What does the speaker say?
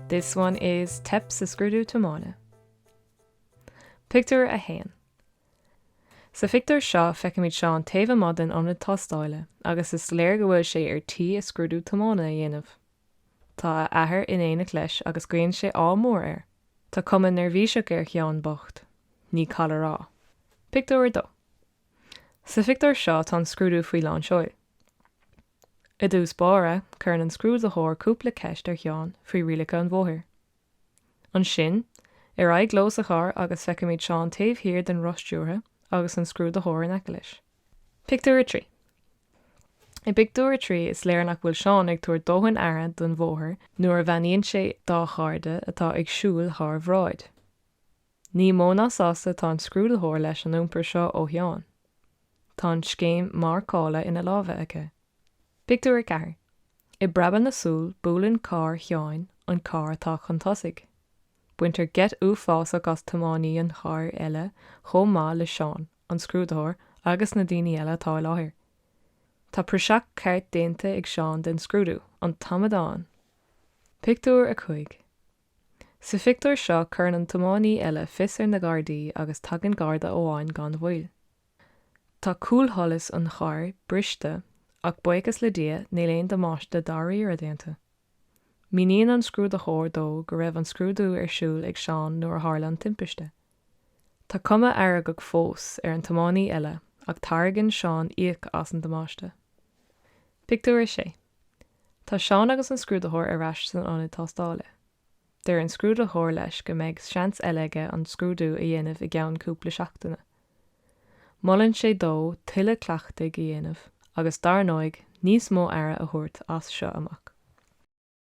This one is Teip sa scrúdú tiomána. Pictiúr 1 Sa phictiúr seo feicimid Seán taobh amuigh den ionad tástáile agus is léir go bhfuil sé ar tí a scrúdú tiomána a dhéanamh. Tá a athair in éineacht leis agus guíonn sé ádh mór air. Tá cuma neirbhíseach ar Sheán bocht. Ní call a rá. Pictiúr 2. Sa phictiúr seo tá an scrúdú faoi lán seoil. I dtús báire, cuireann an scrúdaitheoir cúpla ceist ar Sheán faoi rialacha an bhóthair. Ansin, ar aghaidh leo sa charr agus feicimid Seán taobh thiar den roth stiúrtha agus an scrúdaitheoir in aice leis. Pictiúr 3 I bpictiúr a trí is léir nach bhfuil Seán ag tabhairt dóthain aire don bhóthar nuair a bheannaíonn sé dá chairde atá ag siúl thár bhráid. Ní mó ná sásta atá an scrúdaitheoir leis an iompar seo ó Sheán. Tá an scéim marcála ina láimhe aici. Pictiúr a ceathair. I bpreabadh na súl buaileann carr Sheáin an carr atá chun tosaigh. Baintear geit uafásach as tiománaí an chairr eile chomh maith le Seán, an scrúdaitheoir agus na daoine eile atá i láthair. Tá praiseach ceart déanta ag Seán den scrúdú, an t-amadán. Pictiúr a cúig. Sa phictiúr seo cuireann an tiománaí eile fios ar na Gardaí agus tagann Garda amháin gan mhoill. Tá cúlsholas an chairr briste ach buíochas le Dia níl aon damáiste dáiríre déanta. Míníonn an scrúdaitheoir dó go raibh an scrúdú ar siúl ag Seán nuair a tharla an timpiste. Tá cuma fheargach fós ar an tiománaí eile ach tairgeann Seán íoc as an damáiste. Pictiúr 6 Tá Seán agus an scrúdaitheoir ar ais san ionad tástála. Deir an scrúdaitheoir leis go mbeidh seans eile aige an scrúdú a dhéanamh i gceann cúpla seachtaine. Molann sé dó tuilleadh cleachtaidh a dhéanamh agus, dar ndóigh, níos mó aire a thabhairt as seo amach.